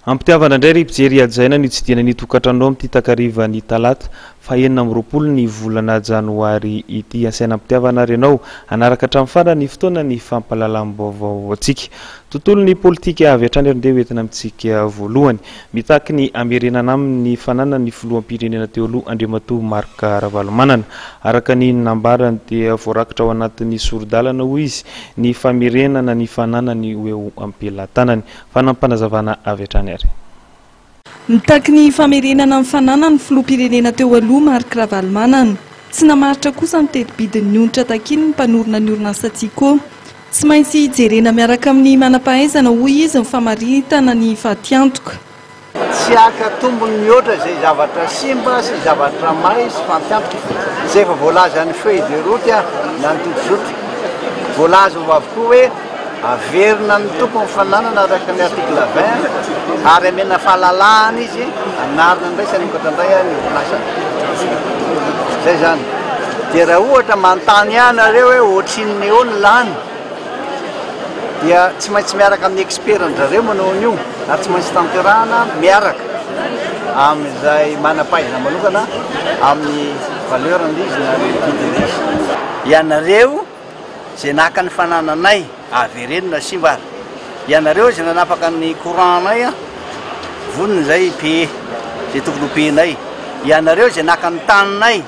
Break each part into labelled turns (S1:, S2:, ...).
S1: Ampitiavana indray ry mpijery hajaina ny tsidihana ny tokantranonao amin'ity takariva ny talata fahenina amby roapolo ny volana janoary ity. Asaina ampitiavana ary ianao hanaraka hatramin'ny farany ny fotoana ny fampahalalam-baovao antsika. Tontolon'ny politika avy hatrany ary ndeha ho entina amintsika voalohany. Mitaky ny hamerenana aminy ny fananan'ny filoham-pirenena teo aloha Andriamatoa Marc Ravalomanana. Araka ny nambarany dia voarakitra ao anatin'ny sori-dalana hoy izy ny famerenana ny fananany ho eo am-pelatanany. Fanampanazavana avy hatrany ary. Nitaky
S2: ny famerenana ny fananan'ny filoham-pirenena teo aloha Marc Ravalomanana. Tsy namaritra kosa ny teti-bidin'ny onitra takiny ny mpanorina ny orinasa Tsiko. Tsy maintsy jerena miaraka amin'ny manam-pahaizana hoy izy ny famaritana ny fatiantoka. Tsy
S3: haka tombony mihoatra izay zavatra simba sy zavatra may sy fatiantoka. Izay efa voalazan'ny feuille de route na ny tojo-zotra. Voalaza ao avokoa hoe. Averina ny tompon'ny fananana araka ny article vingt ary amena fahalalahana izy hanarina indray sy hanokatra indray ny orinasany. Izay izany. Dia raha ohatra manontany ianareo hoe ohatrinona eo ny lany dia tsy maintsy miaraka amin'ny expert-ndry zareo manao an'io ary tsy maintsy tanterahana miaraka amin'izay manam-pahaizana manokana amin'ny valeur-n'izy na ny vidin'izy. Ianareo Izay naka ny fanananay, avereno na simba ary. Ianareo izay nanapaka ny courant-nay an! Vonona izahay hi-payer izay tokony ho payer-nay. Ianareo izay naka ny taninay,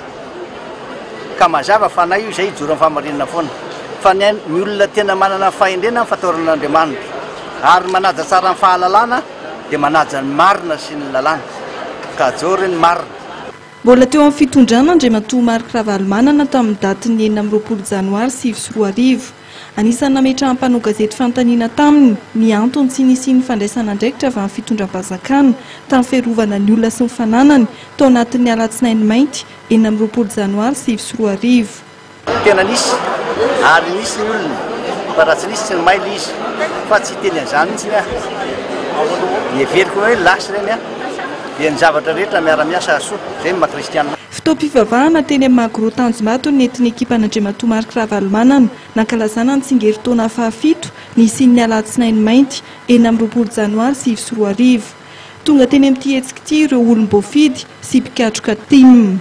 S3: ka mazava fa na io izay hijoro amin'ny fahamarinana foana. Fa ny ain, ny olona tena manana fahendrena ny fataoran' Andriamanitra, ary ny manaja tsara ny fahalalana dia manaja ny marina sy ny lalàna. Ka ajory ny marina. Mbola teo amin'ny
S2: fitondrana Andriamatoa Marc Ravalomanana tamin'ny datin'ny enina amby roapolo janoary sivy sy roa arivo. Anisan'ny nametrahan'ny mpanao gazety fanontaniana taminy ny antony tsy nisian'ny fandraisana andraikitra avy amin'ny fitondram-panjakana tamin'ny fiarovana ny olona sy ny fananany tao anatin'ny alatsinainy mainty enina amby roapolo janoary sivy sy roa arivo. Tena
S3: nisy ary nisy ny olona fa raha tsy nisy tsy ny may le izy fa tsy hiteny an'izany mihitsy ny ahy. Heveriko hoe lasa ireny an! dia ny zavatra rehetra miara-miasa hahasoa, izay ny maha kristiana. Fotoam-pivavahana
S2: teny amin'ny Magro Tanjombato ny nentin'ny ekipàn'Andriamatoa Marc Ravalomanana nankalazana ny tsingerintaona fahafito nisian'ny Alatsinainy mainty enina amby roapolo janoary sivy sy roa arivo. Tonga teny amin'ity hetsika ity ireo olom-boafidy sy mpikatroka tim.